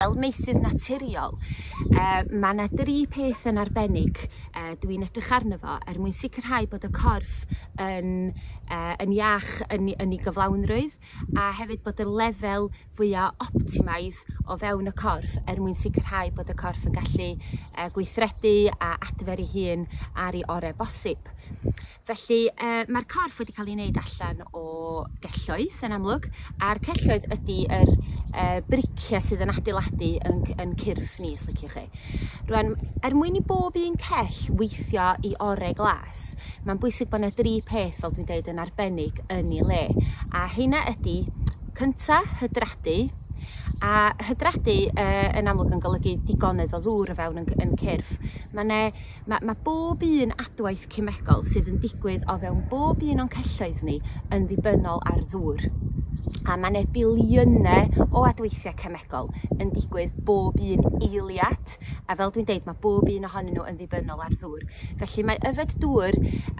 Fel maethydd naturiol, yy ma' 'na dri peth yn arbennig yy dw i'n edrych arno fo er mwyn sicrhau bod y corff yn yy yn iach yn 'i yn 'i gyflawnrwydd a hefyd bod y lefel fwya optimaidd o fewn y corff er mwyn sicrhau bod y corff yn gallu yy gweithredu a adfer ei hun ar 'i ore' bosib. Felly yy ma'r corff wedi ca'l 'i neud allan o gelloedd yn amlwg a'r celloedd ydi yr yy bricie sydd yn adeiladu 'yn c- 'yn cyrff ni os liciwch chi. Rŵan er mwyn i bob un cell weithio 'i ore' glas ma'n bwysig bo' 'ne dri peth fel dwi'n deud yn arbennig yn 'i le a heina ydi cynta' hydradu a hydradu yy yn amlwg yn golygu digonedd o ddŵr o fewn 'yn c- 'yn cyrff ma' 'ne ma' ma' bob un adwaith cemegol sydd yn digwydd o fewn bob un o'n celloedd ni yn ddibynnol ar ddŵr a ma' 'ne biliyne o adweithie cemegol yn digwydd bob un eiliad a fel dwi'n deud ma' bob un ohonyn n'w yn ddibynnol ar ddŵr felly mae yfed dŵr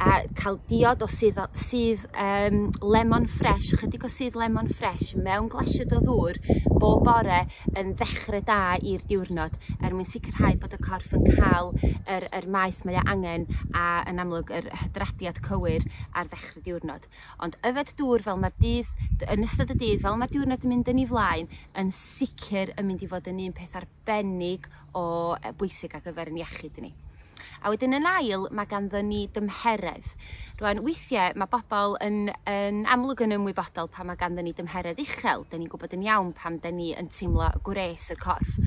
a ca'l diod o sudd o sudd yym lemon ffresh chydig o sudd lemon ffresh mewn glasied o ddŵr bob bore yn ddechre da i'r diwrnod er mwyn sicrhau bod y corff yn ca'l yr yr maeth mae o angen a yn amlwg yr hydradiad cywir ar ddechre diwrnod. Ond yfed dŵr fel ma'r dydd d- yn ystod y dydd fel ma'r diwrnod yn mynd yn 'i flaen yn sicr yn mynd i fod yn un peth arbennig o yy bwysig ar gyfer 'yn iechyd ni. A wedyn yn ail ma' ganddon ni dymheredd. Rŵan weithie ma' bobol yn yn amlwg yn ymwybodol pan ma' ganddon ni dymheredd uchel 'dyn ni'n gwbod yn iawn pam 'dyn ni yn teimlo gwres y corff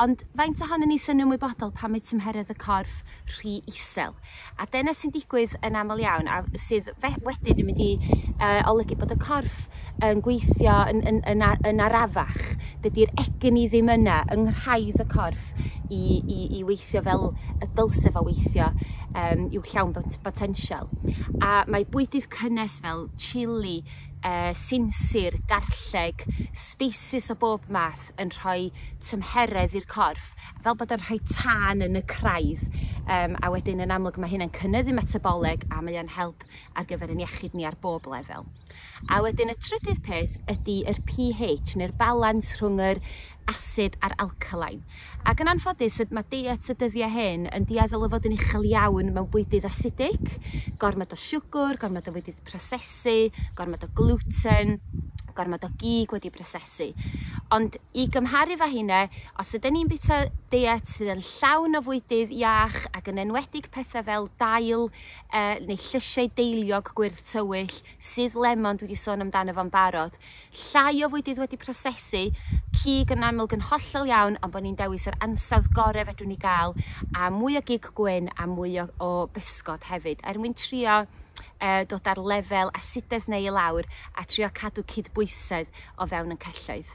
ond faint ohonon ni sy'n ymwybodol pan mae tymheredd y corff rhy isel? A dyna sy'n digwydd yn aml iawn a sydd fe- wedyn yn mynd i yy olygu bod y corff yn gweithio yn yn yn a- yn arafach. Dydi'r egni ddim yna yng nghraidd y corff i i i weithio fel y dylse fo weithio yym i'w llawn bot- botensial. A mae bwydydd cynnes fel chili yy sinsir, garlleg, sbeisys o bob math bod yn rhoi tymheredd i'r corff fel bod yn rhoi tân yn y craidd um, a wedyn yn amlwg mae hynna'n cynyddu metaboleg a mae o'n help ar gyfer yn iechyd ni ar bob lefel. A wedyn y trydydd peth ydy yr pH neu'r balans rhwng yr asid a'r alkaline. Ac yn anffodus mae diet y dyddiau hyn yn dieddol o fod yn uchel iawn mewn bwydydd asidig, gormod o siwgr, gormod o fwydydd prosesu, gormod o gluten, gormod o gig wedi prosesu ati. Ond i gymharu efo heina, os ydyn ni'n bita deiet sydd yn llawn o fwydydd iach ac yn enwedig pethau fel dail uh, neu llysiau deiliog gwyrdd tywyll, sydd lemon dwi wedi sôn amdano fo'n barod, llai o fwydydd wedi prosesu, cig yn amlwg yn hollol iawn ond bod ni'n dewis yr ansawdd gorau fedrwn ni gael a mwy o gig gwyn a mwy o, o bysgod hefyd er mwyn trio uh, dod ar lefel asidedd neu i lawr a trio cadw cydbwysedd. o fewn y celloedd.